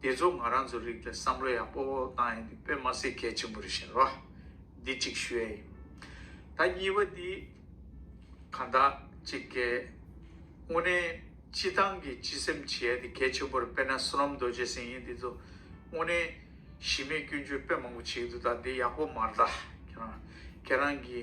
འདི་ཚོ་ང་རང་ཚོ་རིགས་པའི་བསམ་བློ་ཡག་པོ་བཏང་ཡོང་གི་དཔེ་མ་ཟད་གལ་ཆེན་པོ་རེ་བཞིན་རོ། འདི་གཅིག་ཞུ་ཡ་ཡིན། ད་གཉིས་པ་འདི་ག་འདྲ་གཅིག་གལ། དངོས་གནས་སྤྱི་བཏང་གི་སྤྱི་སེམས་བྱེད་ཡ་འདི་གལ་ཆེན་པོ་རེ་དཔེ་ན་སུ་རམ་རྡོ་རྗེ་སེང་ཡིན་འདི་ཚོ་དངོས་གནས་གཞི་མེད་སྐྱོན་བརྗོད་དཔེ་མང་པོ་བྱེད་ཀྱི་འདུག་ད་འདི་ཡག་པོ་མ་རེད་ད་ཁྱེད་རང་ཁྱེད་རང་གི།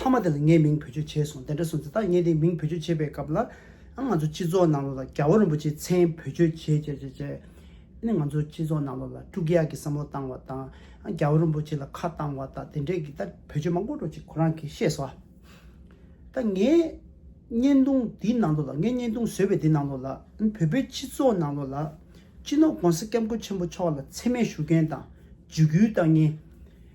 མཐའ་མ་དེ་ལ་ངས་མིང་བེད་སྤྱོད་བྱས་སོང་དེ་འདྲ་སོང་ཚེ་ད་ངས་དེ་མིང་བེད་སྤྱོད་བྱེད་པའི་སྐབས་ལ་ང་ཚོ་སྤྱི་ཚོགས་ནང་ལོགས་ལ་རྒྱ་བོ་རིན་པོ་ཆེའི་མཚན་བེད་སྤྱོད་བྱས་བྱས་བྱས་བྱས་ནས་ང་ཚོ་སྤྱི་ཚོགས་ནང་ལོགས་ལ་དཀྲུག་གཡག་གི་བསམ་བློ་བཏང་བ་དང་རྒྱ་བོ་རིན་པོ་ཆེ་ལ་ཁ་བཏང་བ་དང་དེ་འདྲས་ཀྱི་ད་བེད་སྤྱོད་མང་པོ་འགྲོ་ཅིག་ཁོ་རང་གིས་ཤེས་སོ། ད་ངས་བརྙན་ཐུང་འདིའི་ནང་ལོགས་ལ་ངས་བརྙན་ཐུང་བཟོས་པའི་དེ་ནང་ལོགས་ལ་བོད་པའི་སྤྱི་ཚོགས་ནང་ལོགས་ལ་སྤྱི་ནོར ྋགོང་ས ྋསྐྱབས་མགོན་ཆེན་པོ་མཆོག་ལ་མཚན་སྨད་ཞུ་མཁན་དང་འཇུ་སྐུལ་བཏང་མཁན།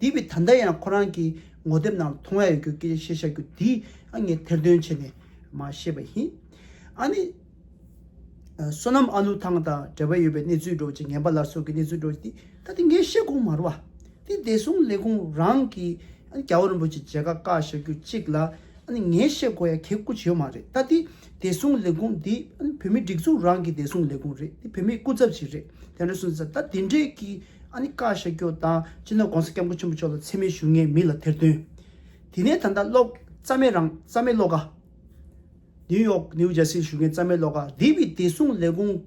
དེ་བས་ད་ལྟ་ཡང་ཁོ་རང་གི་ངོ་དེབ་ནང་ལ་མཐོང་ཡ་ཡོད་རྒྱུ་སྐད་ཆ་བཤད་བཞག་རྒྱུ་དེ་ངས་ཐེར་འདོན་བྱས་ནས་མ་ཤེས་པ་ཡིན། ཨ་ནི། བསོད་ནམས་ཨ་ལུ་ཐང་དང་འབྲེལ་བ་ཡོད་པའི་གནས་ཚུལ་འགྲོ་ཅིག་ངན་པ་ལ་སོགས་ཀྱི་གནས་ཚུལ་འགྲོ་ཅིག་དེ་ད་དེ་ངས་བཤད་དགོངས་མ་རུ་བ། དེ་བདེ་སྲུང་ལས་ཁུངས་རང་གི་ཨ་ནི་རྒྱ་བོ་རིན་པོ་ཆེ་མཇལ་ཁ་བཀག་བཞག་རྒྱུ་གཅིག་ལ་ཨ་ནི་ངས་བཤད་དགོ་ཡ་གལ་ཀུ་ཅི་ཡོད་མ་རེད་ད་དེ་བདེ་སྲུང་ལས་ཁུངས་དེ་ཨ་ནི་བོད་མི་སྒྲིག་འཛུགས་རང་གི་བདེ་སྲུང་ལས་ཁུངས་རེད་དེ་བོད་མིའི་སྐུ་ཚབ་ཅིག་རེད་དེ་འདྲ་སུན་ཟེར་ད་དེ་འདྲས་ཀྱི། ཨ་ནི་བཀའ་ཤག་སྐྱོང་དང་སྤྱི་ནོར ྋགོང་ས ྋསྐྱབས་མགོན་ཆེན་པོ་མཆོག་ལ་མཚན་སྨད་ཞུ་ངེས་མི་ལ་ཐེར་འདོན། དེ་ནས་ད་ལྟ་ཀློག། རྩ་མེད་རང་རྩ་མེད་ཀློག་ཀ། ནིའུ་ཡོག་ནིའུ་ཇར་སིར་ཞུ་མཁན་རྩ་མེད་ཀློག་ཀ་དེ་བས་བདེ་སྲུང་ལས་ཁུངས།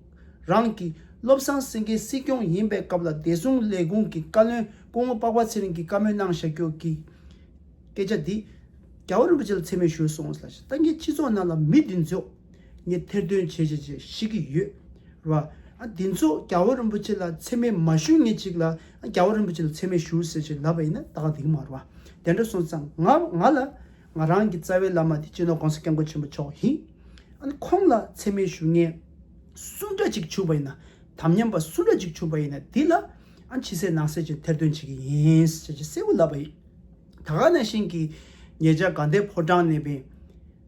རང་གི་བློ་བཟང་སེང་གེ་སྲིད་སྐྱོང་ཡིན་པའི་སྐབས་ལ་བདེ་སྲུང་ལས་ཁུངས་ཀྱི་བཀའ་བློན་སྐུ་ངོ་པགས་པ་ཚེ་རིང་གིས་བཀའ་མོལ་གནང་བཞག་རྒྱུ་གི། སྐད་ཆ་འདི། རྒྱ་བོད་རིན་པོ་ཆེ་ལ་མཚན་སྨད་ཞུས་སོང། ལྟ་མཁན་སྤྱི་ཚོགས་ནང་ལ་མི་འདི་ཚོས། ངས་ཐེར་འདོན་བྱས་བྱས་བྱས་ཤི་གི་ཡོད་རེད་བ། དེ་ཚོ་རྒྱ་བོད་རིན་པོ་ཆེ་ལ་འཚེ་མེད་མ་ཞུ་ངེས་ཅིག་ལ་རྒྱ་བོད་རིན་པོ་ཆེ་ལ་འཚེ་མེད་ཞུ་ཟེར་བྱས་ལབ་པ་ཡིན་ན་ད་ག་དེང་མ་རུ་བ་དེ་འདྲ་སོང་ཙང་ང་ང་ལ་ང་རང་གི་རྩ་བའི་བླ་མ་དེ་སྤྱི་ནོར ྋགོང་ས ྋསྐྱབས་མགོན་ཆེན་པོ་མཆོག་ཡིན། ཁོང་ལ་འཚེ་མེད་ཞུ་ངེས་སུ་འདྲ་ཅིག་ཆུག་པ་ཡིན་ན་དམ་ཉམས་པ་སུ་འདྲ་ཅིག་ཆུག་པ་ཡིན་ན་དེ་ལ་ཕྱི་གསལ་ནང་གསལ་གྱི་ཐེར་འདོན་བྱེད་ཀྱི་ཡིན་ཟེར་བྱས་གསལ་བོ་ལབ་པ་ཡིན། ད་ག་ནང་བཞིན་གྱི་ངེད་ཅག་དགའ་ལྡན་ཕོ་བྲང་ནས་བན།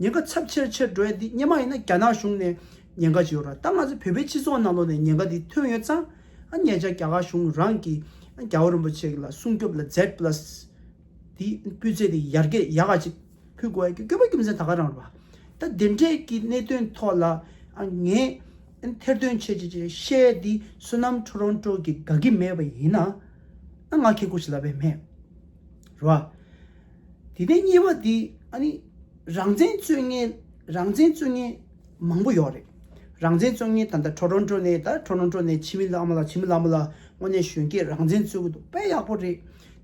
ཉེན་ཁ་ཚབས་ཆེར་ཆེར་འགྲོ་ཡ་འདི་སྙེ་མ་ཡིན་ན་རྒྱ་ནག་གཞུང་ནས་ཉེན་ཁ་ཇི་ཡོད་ར་ད་ང་ཚོ་བོད་པའི་སྤྱི་ཚོགས་ནང་ལོགས་ནས་ཉེན་ཁ་འདི་ཐོན་ཡོད་ཙང་ཨ་མྱེ་ཅག་རྒྱ་གར་གཞུང་རང་གིས་རྒྱ་བོད་རིན་པོ་ཆེ་ལ་སྲུང་སྐྱོབ་ལ Z plus འདི་སྤུས་ཚད་འདི་ཡར་རྒྱས་ཡག་ག་ཅིག་ཕུལ་དགོས་ཡ་རྒྱུ་སྐྱོ་པོ་རྒྱུ་མཚན་ད་ག་རང་ར་ད་འདི་འདྲས་ཀྱི་གནད་དོན་ཐོག་ལ་ཨ་མྱེ་ཐེར་འདོན་བྱེད་བྱེད་བྱེད་བཤད་འདི་བསོད་ནམས་ཁྲོ་རོང་ཁྲོ་གི་དགའ་གི་མེད་པ་ཡིན་ན་ཨ་ང་ཁྱེད་སྐུ་ཞིག་ལ་བས་མེད་ར། དེ་ནས་གཉིས་པ་དེ་ཨ་ནི་རང་བཙན་རྩོད་ངན་རང་བཙན་རྩོད་ངན་མང་པོ་ཡོད་རེད། རང་བཙན་རྩོད་ངན་ད་ལྟ་ཁྲོ་རོ་འགྲོ་ནས་ད་ཁྲོ་རོ་འགྲོ་ནས་ཕྱི་མི་ལ་མ་ལ་ཕྱི་མི་ལ་མ་ལ་དངོས་གནས་གཞོན་སྐྱེས་རང་བཙན་རྩོད་གི་འདུག་དཔེ་ཡག་པོ་རེད།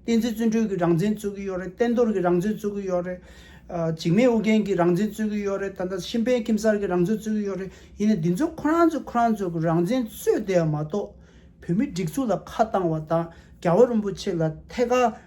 བསྟན་འཛིན་བརྩོན་འགྲུས་ཀྱི་རང་བཙན་རྩོད་གི་ཡོད་རེད་བསྟན་རྡོར་གྱི་རང་བཙན་རྩོད་གི་ཡོད་རེད། འཇིགས་མེད་ཨོ་རྒྱན་གྱི་རང་བཙན་རྩོད་གི་ཡོད་རེད་ད་ལྟ་ཤིན་ཕན་ཁྱིམ་གསར་གྱི་རང་བཙན་རྩོད་གི་ཡོད་རེད་ཡིན་ནའི་འདི་ཚོ་ཁོ་རང་ཚོས་ཁོ་རང་ཚོ་གི་རང་བཙན་རྩོད་བསྡད་པ་མ་གཏོགས་བོད་མི་སྒྲིག་འཛུགས་ལ་ཁ་བཏང་བ་དང་རྒྱ་བོད་རིན་པོ་ཆེ་ལ་ཐད་ཀར།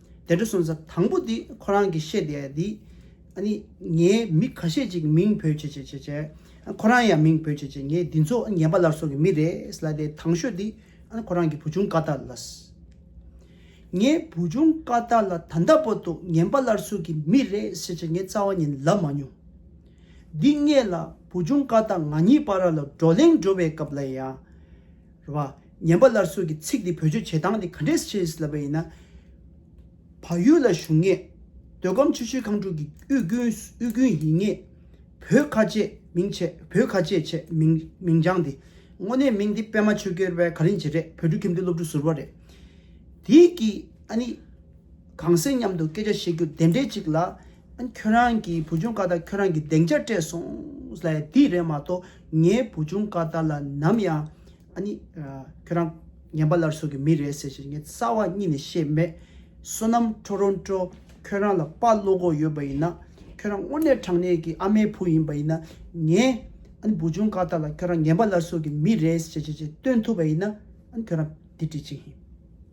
དེ་འདྲ་སོང་ཙང་དང་པོ་དེ་ཁོ་རང་གིས་བཤད་དེ་དེ། ཨ་ནི། ངའི་མི་ཁ་ཤས་ཅིག་མིང་བོས་བྱས་བྱས་བྱས་བྱས། ཁོ་རང་ཡང་མིང་བོས་བྱས་བྱས་ངས་འདི་ཚོ་ངན་པ་ལར་སོང་གི་མི་རེད་ལ་དེ་དང་ཤོས་དེ། ཨ་ནི་ཁོ་རང་གི་བུ་ཆུང་ཀ་ཏཱ་ལཱས། ངའི་བུ་ཆུང་ཀ་ཏཱ་ལཱ་ད་ལྟ་བར་དུ་ངན་པ་ལར་སོང་གི་མི་རེད་བྱས་བྱས་ངས་རྩ་བ་ཉིད་ལབ་མ་མྱོང། འདི་སྔས་ལ་བུ་ཆུང་ཀ་ཏཱ་ང་གཉིས་བར་ར་ལ་བགྲོ་གླེང་འགྲོ་བའི་སྐབས་ལ་ཡང། རེད་བ། ཉན་པ་སླར་གསོ་གི་ཚིག་འདི་བོད་ཆོས་བྱེད་སྟངས་དེ་ག་འདྲས་ཤེས་སླ་བ་ཡིན་ན། བག་ཡོད་ལ་བཞུགས་ངེས། འདོད་ཁམས་ཆེ་ཤོས་ཁང་དྲུག་གི་དབུས་རྒྱུན་ཡིན་ངེས། བོད་ཁ་ཆེས་མིང་ཆེ་བོད་ཁ་ཆེས་ཆེ་མིང་བྱང་འདི། དངོས་གནས་མིང་འདི་པད་མ་ཆོས་སྐྱོར་བས་ག་རིང་བྱེད་རེད་བོད་ཕྲུག་ཁྱིམ་དུ་སློབ་ཕྲུག་ཟུར་བ་རེད། དེའི་གིས་ཨ་ནི། གངས་སེང་མཉམ་དུ་སྐད་ཆ་བཤད་རྒྱུ་དེ་འདྲས་ཅིག་ལ། ཁྱོད་རང་གི་བུ་ཆུང་ཀ་ད་ཁྱོད་རང་གི་གདེང་ཆ་སྤྲད་སོང། ལས་འདི་རེད་མ་གཏོགས་ངའི་བུ་ཆུང་ཀ་ད་ལ་ནམ་ཡང། ཁྱོད་རང་ངན་པ་ལར་ཟོག་གི་མི་རེད་ཟེར་བཞིན་ངའི་རྩ་བ་གཉིད་ནས་ཤེས་མེད། བསོད་ནམས་ཁྲོ་རོན་ཀྲོ། ཁྱོད་རང་ལ་དཔའ་བློ་སྒོ་ཡོད་པ་ཡིན་ན། ཁྱོད་རང་དངོས་གནས་དྲང་གནས་ཀྱི་ཨ་མའི་བུ་ཡིན་པ་ཡིན་ན། ངའི་བུ་ཆུང་ཀ་ད་ལ་ཁྱོད་རང་ངན་པ་ལར་ཟོག་གི་མི་རེད་ཟེར་བཞིན་ཅིག་སྟོན་ཐུབ་པ་ཡིན་ན། ཁྱོད་རང་འདི་འབྲི་ཅིག།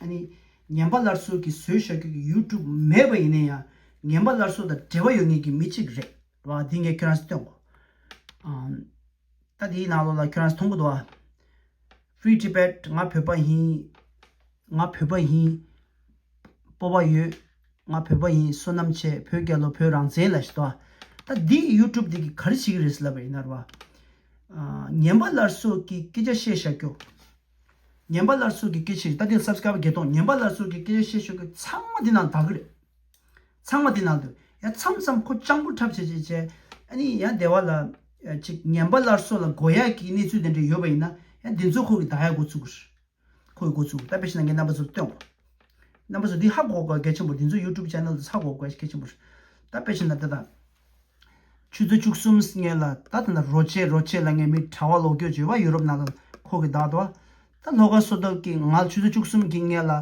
ཨ་ནི། ངན་པ་སླར་གསོ་གི་བཟོས་བྱ་ཁྱོད་ཀྱི YouTube མེད་པ་ཡིན་ན་ཡང་ངན་པ་སླར་གསོ་དང་འབྲེལ་བ་ཡོད་ངེས་ཀྱི་མི་གཅིག་རེད་བ་འདི་ངས་ཁྱོད་རང་ཚོ་སྟོན་གོ། ད་འདིའི་ནང་ལོགས་ལ་ཁྱོད་རང་ཚོ་མཐོང་གི་འདུག་བ། Free Tibet ང་བོད་པ་ཡིན། ང་བོད་པ་ཡིན། སྤོབས་པ་ཡོད། ང་བོད་པ་ཡིན་བསོད་ནམས་ཆེ་བོད་རྒྱལ་ལོ་བོད་རང་བཙན་ལ་བྱས་དོ། ད་འདི YouTube འདི་གི་ག་རེ་བྱེད་ཀྱི་རེད་ཟེར་ལབ་པ་ཡིན་ན་ར་བ། ངན་པ་སླར་གསོ་གི་སྐད་ཆ་བཤད་བྱ་ཁྱོད། ངན་པ་སླར་གསོ་གི་སྐད་ཆེ་རེད་ད་དེ་སབ་སྐྲ་བ་བརྒྱད་སྟོང་ངན་པ་སླར་གསོ་གི་སྐད་ཆ་བཤད་ཤོག་གི་ཚང་མ་དེ་ནང་དག་གི་རེད་ཚང་མ་དེ་ནང་དུ་ཡང་མཚམས་མཚམས་ཁོ་སྤྱང་པོ་འཁྲབ་བྱེད་བྱེད་བྱེད་ཨ་ནི་ཡང་སྡེ་བ་ལ་ཅིག་ངན་པ་སླར་གསོ་ལ་མགོ་ཡག་གི་གནས་ཚུལ་དེ་འདྲ་ཡོད་པ་ཡིན་ན་ཡང་དེ་ཚོ་ཁོ་གི་དག་ཡག་འགོ་ཚུགས་རེད་ཁོ་གི་འགོ་ཚུགས་ད་བེད་ཤེ་ན་ངའི་རྣམ་པ་ཚོར་སྟོན་གོ་རྣམ་པ་ཚོ་འདི་ཧ་གོ་གོ་གེ་ཆེན་པོ་རེད་འདི་ཚོ་ཡུ་ཀྲུབ་ཅན་ནལ་དུ་ཚ་གོ་གོ་གེ་ཆེན་པོ་རེད་ད་བེད་ཤེ་ན་དེ་དང། ཆུ་ཚོད་བཅུ་གསུམ་ངེད་ལ་ད་ཐེངས་ད་རོ་ཆས་རོ་ཆས་ལ་ངེད་མི་གྲྭ་བ་ལོག་སྐྱོད་བྱོས་པ་ཡུ་རོབ་ནང་ལ་ཁོག་གི་གདའ་དོ། ད་ལྷོ་ཁ་སོ་ཐབས་ཀྱིས་ང་ཆུ་ཚོད་བཅུ་གསུམ་གྱིས་ངེད་ལ་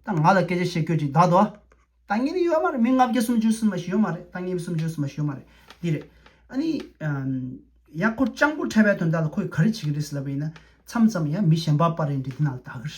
ད་ང་ལ་སྐད་ཆ་བཤད་ཁྱོད་ཀྱི་གདའ་དོ། ད་ངེད་ནི་ཡོད་མ་རེད་མི་ལྔ་བརྒྱ་སུམ་ཅུ་སུན་མ་ཞིག་ཡོད་མ་རེད་ད་ངེད་མི་སུམ་ཅུ་སུན་མ་ཞིག་ཡོད་མ་རེད་འདི་རེད། ཨ་ནི། ཡ་ཁོ་སྤྱང་པོ་ཕྲད་པའི་དོན་དག་ལ་ཁོས་ག་རེ་བྱེད་ཀྱི་རེད་ཟེར་ལབ་པ་ཡིན་ན་མཚམས་མཚམས་ཡ་མི་གཞན་པ་པ་རེད་འདི་དེ་ནང་ལ་གདའ་གི་རེད།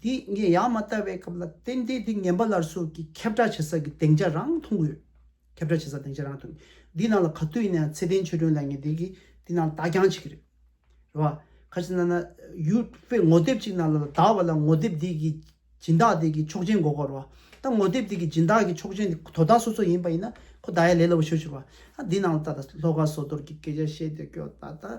འདི་ངས་ཡང་མ་བལྟ་བའི་སྐབས་ལ་བརྟེན་ཏེ་འདི་ངན་པ་ལར་སོགས་ཀྱི་ཁྱབ་བསྒྲགས་བྱེད་ས་ཀྱི་སྡེང་ཆ་རང་མཐོང་གི་ཡོད། ཁྱབ་བསྒྲགས་བྱེད་ས་སྡེང་ཆ་རང་མཐོང་གི་ཡོད། འདིའི་ནང་ལ་ག་དུས་ཡིན་ན་ཡང་ཚེ་བརྟན་ཆོས་སྒྲོན་ལགས་ངས་དེ་གི་དེ་ནང་ལ་བདག་རྐྱང་བྱེད་ཀྱི་རེད། རེད་བ། ཁ་ཅིག་ན་ན། ཡུལ་དཔེ་ངོ་དེབ་ཅིག་ནང་ལ་ལ་དྭགས་བ་ལ་ངོ་དེབ་འདི་གི་སྦྱིན་བདག་དེ་གི་ཆོག་མཆན་འགོ་དགོས་རེད་བ། ད་ངོ་དེབ་དེ་གི་སྦྱིན་བདག་གི་ཆོག་མཆན་དེ་དོ་བདག་སོ་སོ་ཡིན་པ་ཡིན་ན་ཁོ་བདག་ཡ་ལས་སླ་བོ་ཤོད་ཤོད་རེད་བ། ད་འདི་ནང་ལ་ད་ལ་ལྷོ་ཁ་ཟོ་དོར་གྱི་སྐད་ཆ་བཤད་དེ་སྐྱོ་ད་ད།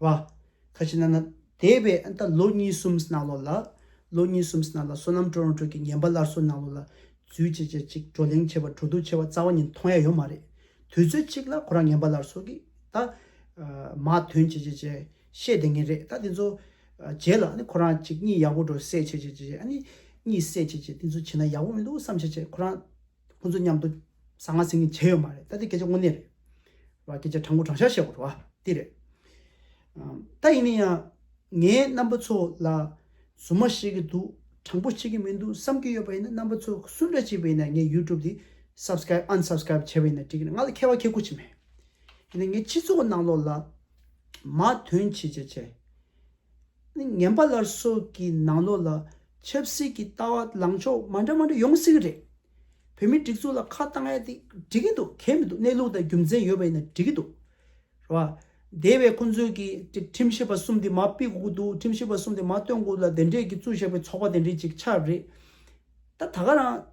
བ། ཁ་ཆེ་ན་ན། དེ་བས་ཨ་མདའ་ལོ་གཉིས་གསུམ་སྣང་ལོ་ལ། ལོ་གཉིས་གསུམ་སྣང་ལ་སོ་ནམ་སྤྲོ་རང་སྤྲོ་གི་ངན་པ་སླར་གསོ་སྣང་ལོ་ལ། རྫུས་བྱེད་བྱེད་ཅིག་བགྲོ་གླེང་ཆེ་བ་བྲོ་འདུག་ཆེ་བ་རྩ་བ་ཉིད་མཐོང་ཡ་ཡོད་མ་རེད། དུས་ཚོད་གཅིག་ལ་ཁོ་རང་ངན་པ་སླར་གསོ་གི་ད། མ་དོན་བྱེད་བྱེད་བྱེད་ཤེས་བདེ་ངེས་རེད་ད་དེ་ཚོ། རྗེས་ལ་ཨ་ནི་ཁོ་རང་གཅིག་གཉིས་ཡག་པོ་འགྲོ་སེ་བྱེད་བྱེད་བྱེད་བྱེད་ཨ་ནི། གཉིས་སེ་བྱེད་བྱེད་དེ་ཚོ་བྱེད་ན་ཡག་པོ་མི་འདུག་བསམ་བྱེད་བྱེད་ཁོ་རང། ཁོང་ཚོ་མཉམ་དུ་གཟའ་ང་གཟིགས་ནི་བྱས་ཡོད་མ་རེད་ད་དེ་སྐད་ཆ་དངོས་གནས་རེད། བ་སྐད་ཆ་དྲང་པོ་དྲང་ཤར་བཤད་དགོས་རེད་བ་དེ་རེད། ད་ཡིན་ན་ཡང་ངའི་རྣམ་པ་ཚོ་ལ་བཟོ་མ་བཤད་གི་འདུག་དྲང་པོ་བཤད་གི་མི་འདུག་བསམ་གི་ཡོད་པ་ཡིན་ན་རྣམ་པ་ཚོ་སུ་འདྲ་བྱས་པ་ཡིན་ན་ངའི YouTube དེ Subscribe Unsubscribe བྱས་པ་ཡིན་ན་འགྲིག་གི་རེད་ང་ལ་ཁེ་བ་ཁེ་ཁུ་ཅི་མེད། ཡིན་ན་ངའི་སྤྱི་ཚོགས་ནང་ལོགས་ལ་མ་དོན་བྱེད་བྱེད་བྱེད། ནི་ངན་པ་ལར་སོགས་ཀྱི་ནང་ལོགས་ལ་ཆབ་སྲིད་ཀྱི་ལྟ་བ་ལངས་ཕྱོགས་མ་འདྲ་མ་འདྲ་ཡོང་སྲིད་གི་རེད། བོད་མི་སྒྲིག་འཛུགས་ལ་ཁ་བཏང་ཡ་དེ་འགྲིག་གི་འདུག་གལ་མི་འདུག་གནས་ལུགས་དང་རྒྱུ་མཚན་ཡོད་པ་ཡིན་ན་འགྲིག་གི་འདུག་རེད་བ། དེ་བས་ཁོང་ཚོས་ཀྱི་ཀྱི་ཁྲིམས་ཞིབ་པ་གསུམ་དེ་མ་དཔེ་དགོས་ཀྱི་འདུག་ཁྲིམས་ཞིབ་པ་གསུམ་དེ་མ་བཏོན་དགོས་ལ་དེ་འདྲས་ཀྱི་གཙོས་བཞག་པའི་ཚོགས་པ་དེ་འདྲས་ཅིག་ཆགས་རེད། ད་ད་ག་རང།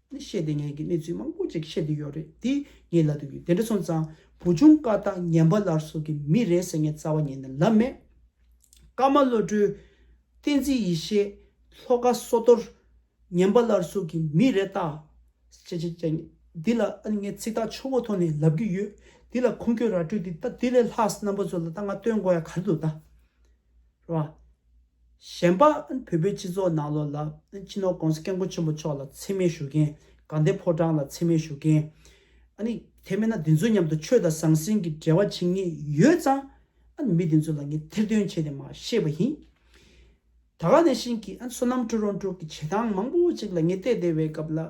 ནས་བཤད་དེ་ངས་ཀྱི་གནས་ཚུལ་མང་པོ་ཅིག་བཤད་དེ་ཡོད་རེད་དེ་ངའི་ལ་དུ་ཡོད་དེ་འདྲ་སོང་ཙང་བུ་ཆུང་བཀའ་རྟགས་ངན་པ་ལར་སོ་གི་མི་རེད་ཟེར་ངས་རྩ་བ་ཉན་ནས་ལབ་མེད། ཀརྨ་བློ་གྲོས། བསྟན་འཛིན་ཡེ་ཤེས། ལྷོ་དགའ་བསོ་རྡོར། ངན་པ་ལར་སོ་གི་མི་རེད་ད། ཅེ་ཅེ་ཅེ། འདི་ལ་ཨ་ནི་ངས་ཚིག་ཐག་ཆོད་པོ་ཐོག་ནས་ལབ་ཀྱི་ཡོད། འདི་ལ་ཁུངས་སྐྱོན་ར་སྤྲོད་དེ་ད་དེ་ལས་ལྷག་རྣམ་པ་ཚོ་ལ་ད་ང་སྟོན་དགོས་ཡ་ག་རེ་འདུག་ད། རོ། གཞན་པ་བོད་པའི་སྤྱི་ཚོགས་ནང་ལོ་ལ་སྤྱི་ནོར ྋགོང་ས ྋསྐྱབས་མགོན་ཆེན་པོ་མཆོག་ལ་འཚེ་མེད་ཞུ་མཁན། དགའ་ལྡན་ཕོ་བྲང་ལ་འཚེ་མེད་ཞུ་མཁན། ཨ་ནི་དེ་མེད་ན་འདི་ཚོའི་མཉམ་དུ་ཆོས་དང་ཟང་ཟིང་གི་འབྲེལ་བ་བྱེད་ངེས་ཡོད་ཙང། ཨ་ནི་མི་དེ་ཚོ་ལ་ངས་ཐེར་འདོན་བྱས་ཏེ་མ་ཤེས་པ་ཡིན། ད་ག་ནས་བཞིན་གྱི་ཨ་ནི་བསོད་ནམས་བཀྲུ་རོང་དྲུག་གི་བྱེད་སྟངས་མང་པོ་ཅིག་ལ་ངས་བལྟས་བལྟས་བའི་སྐབས་ལ།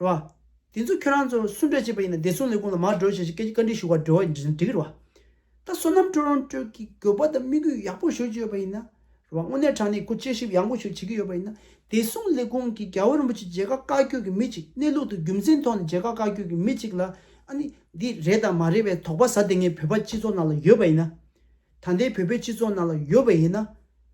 རེད་བ། དེ་ཚོ་ཁྱོད་རང་ཚོ་སུ་འདྲ་བྱས་པ་ཡིན་ན་བདེ་སྲུང་ལས་ཁུངས་ལ་མར་འགྲོ་བྱས་ཞེས་སྐད་ཆ་བཀའ་འདྲི་ཞུ་བར་འབྲེལ་བ་འགྲིག་གི་རེད་བ། ད་སོ་ནམ་ཀྲོ་རོང་ཀྲོས་ཀྱིས་དགོས་པ་དང་དམིགས་ཡུལ་ཡག་པོ་ཤོད་ཀྱི་ཡོད་པ་ཡིན་ན། རེད་བ། དངོས་གནས་དྲང་གནས་ཁོ་དཔྱད་ཞིབ་ཡག་པོ་ཞིག་བྱེད་ཀྱི་ཡོད་པ་ཡིན་ན། བདེ་སྲུང་ལས་ཁུངས་ཀྱིས་རྒྱལ་བོ་རིན་པོ་ཆེ་མཇལ་ཁ་བཀའ་བསྐྱོད་ཀྱི་མི་གཅིག་གནས་ལུགས་དང་རྒྱུ་མཚན་ཐོག་ནས་མཇལ་ཁ་བཀའ་བསྐྱོད་ཀྱི་མི་གཅིག་ལ། ཨ་ནི། འདི་རེད་དང་མ་རེད་བའི་དོགས་པ་ཟ་དེ་ངའི་བོད་པ་སྤྱི་ཚོགས་ནང་ལ་ཡོད་པ་ཡིན་ན། ད་ལྟའི་བོད་པའི་སྤྱི་ཚོགས་ནང་ལ་ཡོད་པ་ཡིན་ན།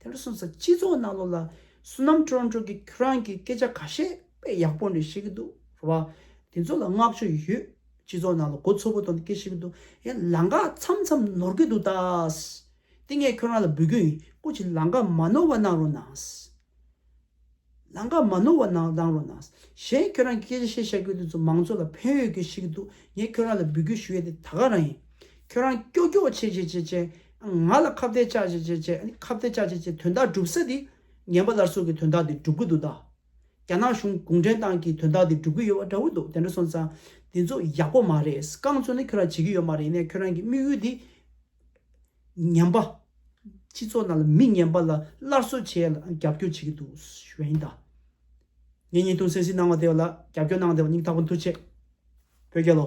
དེ་ལ་སོང་ཙང་སྤྱི་ཚོགས་ནང་ལོགས་ལ་བསོད་ནམས་ཁྲོ་ཁྲོ་གི་ཁྱོད་རང་གི་སྐད་ཆ་ག་ཤེད་དཔེ་ཡག་པོ་འདྲི་ཤེས་ཀྱི་འདུག་རེད་བ། དེ་ཚོ་ལ་བསྔགས་བརྗོད་ཡོད། སྤྱི་ཚོགས་ནང་ལ་མགོ་ཚོ་པོ་གཏོང་སྟེ་སྐད་ཤེས་ཀྱི་འདུག་ཡ་ལང་ཀ་མཚམས་མཚམས་ནོར་གྱི་འདུག་ད། དེ་ངས་ཁྱོད་རང་ལ་འབུལ་རྒྱུ་ཡིན་སྐུ་ཅིག་ལང་ཀ་མ་ནོར་བ་གནང་རོགས་གནང། ནང་ཁ་མ་ནོར་བ་ནང་ལངས་རོགས་གནང། གཞན་ཁྱོད་རང་གི་སྐད་ཆ་བཤད་ཤག་གི་དུས་ཚོད་མང་ཚོད་ལ་ཕན་ཡོད་གི་ཤིག་འདུག་ངས་ཁྱོད་རང་ལ་འབུལ་རྒྱུ་ཞུ་ཡས་དེ་ད་ག་རང་ཡིན། ཁྱོད་རང་སྐྱོག་སྐྱོག་བྱས་བྱས་བྱས་བྱས། ང་ལ་ཁ་བརྡའི་བཅག་བྱས་བྱས་བྱས་ཨ་ཁ་བརྡའི་བཅག་བྱས་བྱས་དོན་དག་སྒྲུབ་ས་དེ། ངན་པ་ལར་སོག་གི་དོན་དག་དེ་སྒྲུབ་གི་འདུག་ད། རྒྱ་ནག་གཞུང་གུང་ཁྲན་ཏང་གི་དོན་དག་དེ་སྒྲུབ་གི་ཡོད་བ་འདྲ་བོ་འདུག་དེ་འདྲ་སོང་ཙང། དེ་ཚོ་ཡག་པོ་མ་རེད་རྐང་ཚོད་ནི་ཁྱོད་རང་བྱེད་ཀྱི་ཡོད་མ་རེད་ནས་ཁྱོད་རང་གི་དམིགས་ཡུལ་དེ། ཉམས་པ། སྤྱི་ཚོགས་ནང་ལ་མི་ངན་པ་ལ་སླར་གསོ་བྱེད་ལ་རྒྱབ་སྐྱོར་བྱེད་ཀྱི་འདུག་ཞུས་ཡིན་ད། ངས་ཉིན་ཐུང་སེ་སི་གནང་བ་དེ་ལ་རྒྱབ་སྐྱོར་གནང་བ་དེ་བ་སྙིང་ཐག་པ་འཐུ་ཆེད་བོད་རྒྱལ་ལོ།